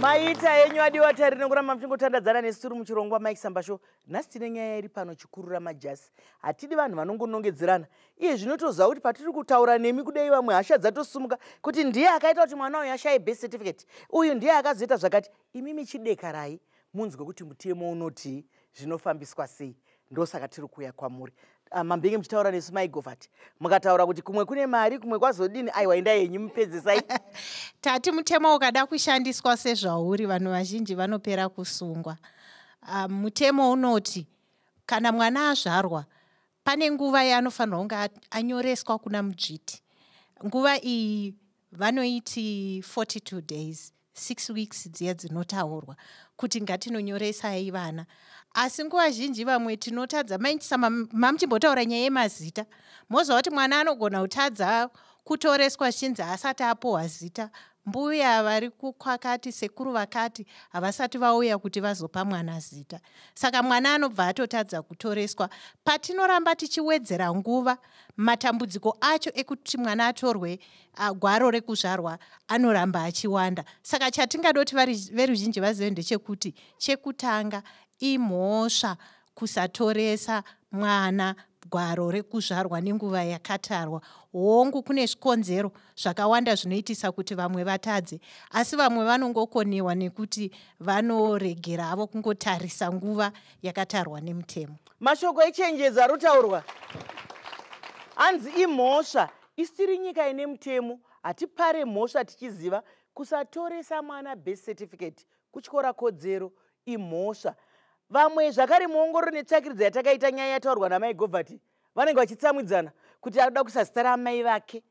maita yenyu adiwa tari nekuramba muchingotandadzana nesu tiri muchirongwa mike sambasho nhasi tine nyaya iri pano chikurura majasi hatidi vanhu vanongonongedzerana iye zvinotoziva kuti patiri kutaura nemi kudai vamwe hasha dzatosumuka kuti ndiye akaita kuti mwana uyu ashaye best certificate uyu ndiye akazoita zvakati imi michidekarai munzwe kuti mutemo unoti zvinofambiswa sei ndosaka tiri kuuya kwamuri ah, mambenge muchitaura nesu maigovati mukataura kuti kumwe kune mari kumwe kwazodini aiwa enda yenyu mupedzesai tati mutemo ukada kushandiswa sezvauri vanhu vazhinji vanopera kusungwa ah, mutemo unoti kana mwana azvarwa pane nguva yaanofanirwa kunge anyoreswa kuna mudzviti nguva iyi vanoiti 42 days six weeks dziya dzinotaurwa kuti ngatinonyoresai vana asi nguva zhinji vamwe tinotadza mainchisa mamuchimbotaura nyaya yemazita moziva kuti mwana anogona kutadza kutoreswa zvinzi haasati apohwa zita Mbuya vari kukwakati sekuru vakati havasati vauya kuti vazopa mwana zita. Saka mwana anobva atotadza kutoreswa. Patinoramba tichiwedzera nguva, matambudziko acho ekuti mwana atorwe gwaro rekuzvarwa anoramba achiwanda. Saka chatingadoti veruzhinji vazive ndechekuti chekutanga imhosva kusatoresa mwana gwaro rekuzvarwa nenguva yakatarwa hongu kune zvikonzero zvakawanda zvinoitisa kuti vamwe vatadze asi vamwe vanongokonewa nekuti vanoregera havo kungotarisa nguva yakatarwa nemutemo mashoko echenjedzo ari kutaurwa hanzi imhosva isiri nyika ine mutemo hatipare mhosva tichiziva kusatoresa mwana birth certificate kutyora kodzero imhosva vamwe zvakare muongororo netsvakiridza yatakaita nyaya yataurwa namai govati vanenge vachitsamwidzana kuti anoda kuisa zita raamai vake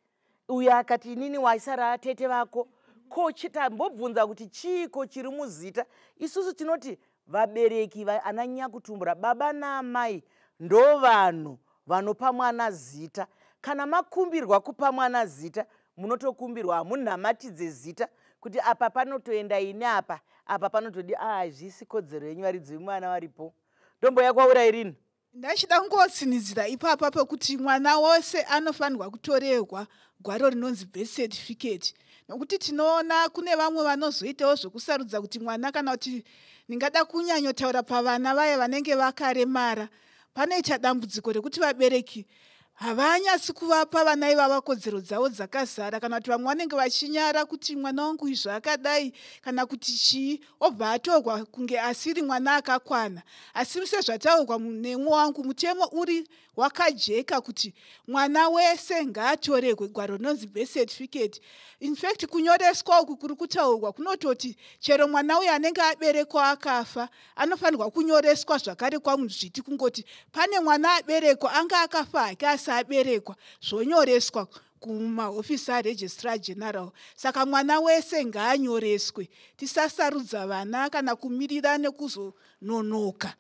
uyo akati inini waisa ratete vako ko tambobvunza kuti chiiko chiri muzita isusu tinoti vabereki ana nyakutumbura baba naamai ndo vanhu vanopa mwana zita kana makumbirwa kupa mwana zita munotokumbirwa hamunamatidze zita kuti apa panotoenda ini apa apa panotodi hazvisi ah, kodzero yenyu varidzi vemwana varipo ndombo yakwaura irini ndachida kungosinidzira ipapa pekuti mwana wose anofanirwa kutorerwa gwaro rinonzi birth certificate nokuti tinoona kune vamwe vanozoitawo zvekusarudza kuti mwana kana kuti ndingada kunyanyotaura pavana vaye vanenge vakaremara panoita dambudziko rekuti vabereki Havanyasi kuvapa vana ivava kodzero dzavo dzakazara kana kuti vamwe vanenge vachinyara kuti mwana wangu uyu zvaakadai kana kuti chii obva atorwa kunge asiri mwana akakwana asi sezvataurwa nemwe wangu mutemo uri wakajeka kuti mwana wese ngaatoregwe gwaro rinonzi birth certificate infact kunyoreswa uku kuri kutaurwa kunototi chero mwana uyo anenge aberekwa akafa anofanirwa kunyoreswa zvakare kwamuzviti kungoti pane mwana aberekwa anga akafa hake asi aberekwa zvonyoreswa kumahofisi aregistrar general saka mwana wese ngaanyoreswe tisasarudza vana kana kumirira nekuzononoka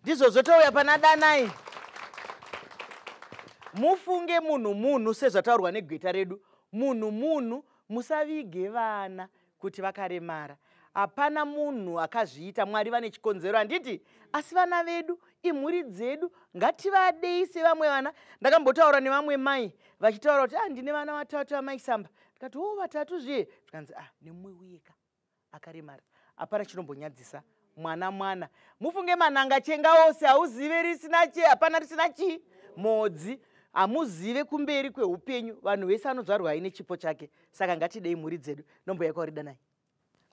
ndizvo zvotouya pana danai mufunge munhu munhu sezvataurwa negweta redu munhu munhu musavige vana kuti vakaremara hapana munhu akazviita mwari vane chikonzero handiti asi vana vedu imhuri dzedu ngativadei sevamwe vana ndakambotaura nevamwe mai vachitaura kuti ah ndine vana vatatu amai samba ndikati o oh, vatatu zviye zvikanzi ah nemumwe uyeka akaremara hapana chinombonyadzisa mwana mwana mufunge mananga chenga ose hauzive risina che hapana risina chii modzi hamuzive kumberi kweupenyu vanhu vese anodzvarwa aine chipo chake saka ngatidei mhuri dzedu nombo yako rida nai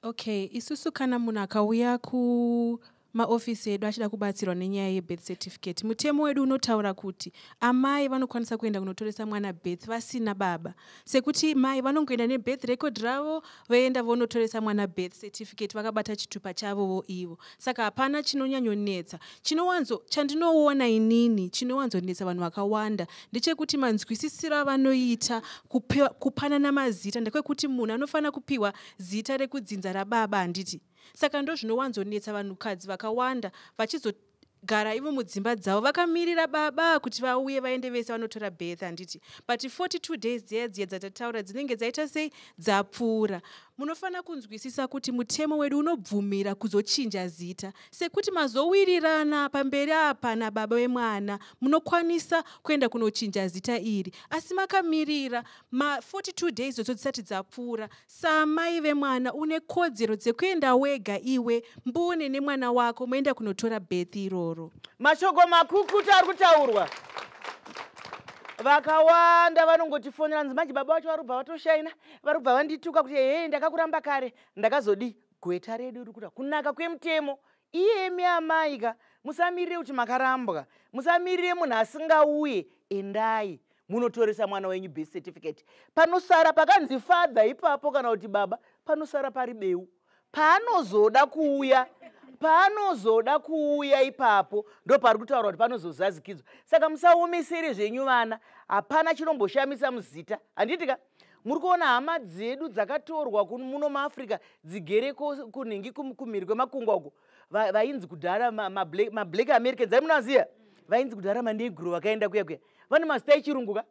okay isusu kana munhu akauya ku maofisi edu achida kubatsirwa nenyaya yebirth certificate mutemo wedu unotaura kuti amai vanokwanisa kuenda kunotoresa mwana birth vasina baba sekuti mai vanongoenda nebirth record ravo voenda vonotoresa mwana birth certificate vakabata chitupa chavovo ivo saka hapana chinonyanyonetsa chinowanzo chandinoona inini chinowanzonetsa vanhu vakawanda ndechekuti manzwisisiro avanoita kupanana mazita ndekwekuti munhu anofanira kupiwa zita rekudzinza rababa handiti saka ndozvinowanzonetsa vanhukadzi vakawanda vachizo gara ivo mudzimba dzavo vakamirira baba kuti vauye vaende vese vanotora birth handiti but 42 days dziya dziya dzatataura dzinenge dzaita sei dzapfuura munofanira kunzwisisa kuti mutemo wedu unobvumira kuzochinja zita sekuti mazowirirana pamberi apa nababa vemwana munokwanisa kuenda kunochinja zita iri asi makamirira ma42 days dzodzo dzisati dzapfuura Saamai vemwana une kodzero dzekuenda wega iwe mbune nemwana wako moenda kunotora birth iroro. Mashoko makukuta ari kutaurwa. Vakawanda vanongotifonera nzi manje baba vacho varubva vatoshaina varubva vandituka kuti hee ndakakuramba kare ndakazodii gweta redu riri kuda kunaka kwemutemo iyemi amai ka musamirire kuti makarambwa musamirire munhu asingauye endai munotoresa mwana wenyu birth certificate panosara pakanzi father ipapo kana kuti baba panosara pari beu paanozoda kuuya paanozoda kuuya ipapo ndo pari kutaura kuti panozozazikidzwa saka musaomesere zvenyu vana hapana chinomboshamisa muzita handiti ka muri kuona hama dzedu dzakatorwa muno muafrica dzigere kunhingi kumhiri kwemakungwa uko vainzi kudhara mablack americans aimunaziva vainzi kudhara manegro vakaenda kuya kuya vane mazita echirungu ka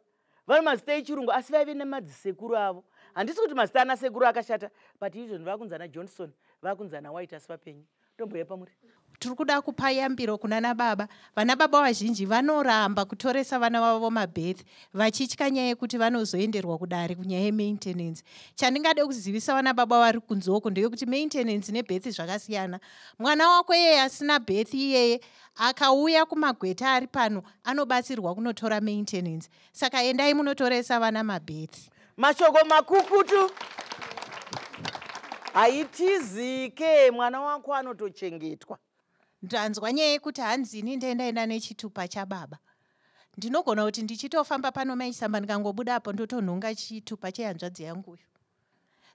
vane mazita echirungu asi vaive nemadzisekuru avo handisi kuti mazita ana sekuru akashata but izvozvi vakunzi ana johnson vakunzi ana white asi vapenyu ndomboya pamuri tiri kuda kupa yambiro kuna nababa vana baba vazhinji vanoramba kutoresa vana vavo vomabirth vachitya nyaya yekuti vanozoenderwa kudare kunyaya yemaintenance chandingade kuzivisa vana baba vari kunzoko ndeyekuti maintenance nebirth zvakasiyana mwana wako iyeye asina birth iyeye akauya kumagweta ari pano anobatsirwa kunotora maintenance saka endai munotoresa vana mabhethi mashoko makukutu haitizike mwana wako anotochengetwa ndanzwa nyaya yekuti hanzini ndendaenda nechitupa chababa ndinogona kuti ndichitofamba pano maisamba ndikangobuda apo ndotonhonga chitupa chehanzvadzi yanguyo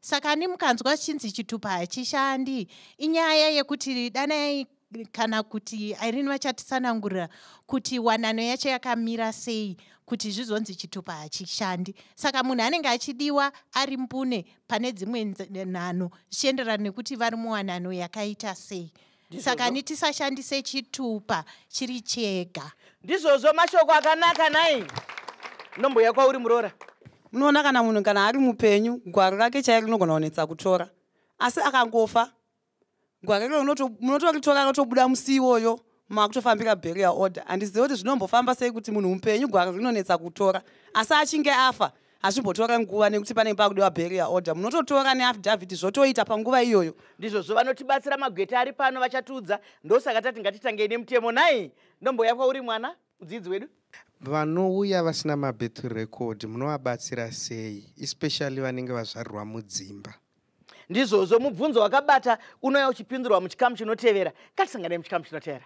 saka ani mukanzwa zichinzi chitupa hachishandi inyaya yekuti danai kana kuti irene vachatisanangurira kuti wanano yacho yakamira sei kuti zvizonzi chitupa hachishandi saka munhu anenge achidiwa ari mbune pane dzimwe nano zvichienderana nekuti vari muwanano yakaita sei saka ni tisashandise chitupa chiri chega ndizvozvo mashoko akanaka nai nombouya kwauri muroora unoona kana munhu kana ari mupenyu gwaro rake chairo rinogona kunetsa kutora asi akangofa gwaro iro munotoritora rotobuda musi iwoyo makutofambira barrier order handizive kuti zvinombofamba sei kuti munhu mupenyu gwaro rinonetsa kutora asi achinge afa hazvimbotora nguva nekuti panenge pakudiwa barrier order munototora neafidavhiti zvotoita panguva iyoyo ndizvozvo vanotibatsira magweta ari pano vachatiudza ndosaka tati ngatitangei nemutemo nai ndomboya kwauri mwana mudzidzi wedu vanouya vasina mabirth record munovabatsira sei especially vanenge vazvarirwa mudzimba ndizvozvo mubvunzo wakabata unouya uchipindurwa muchikamu chinotevera ngatisanganei muchikamu chinotevera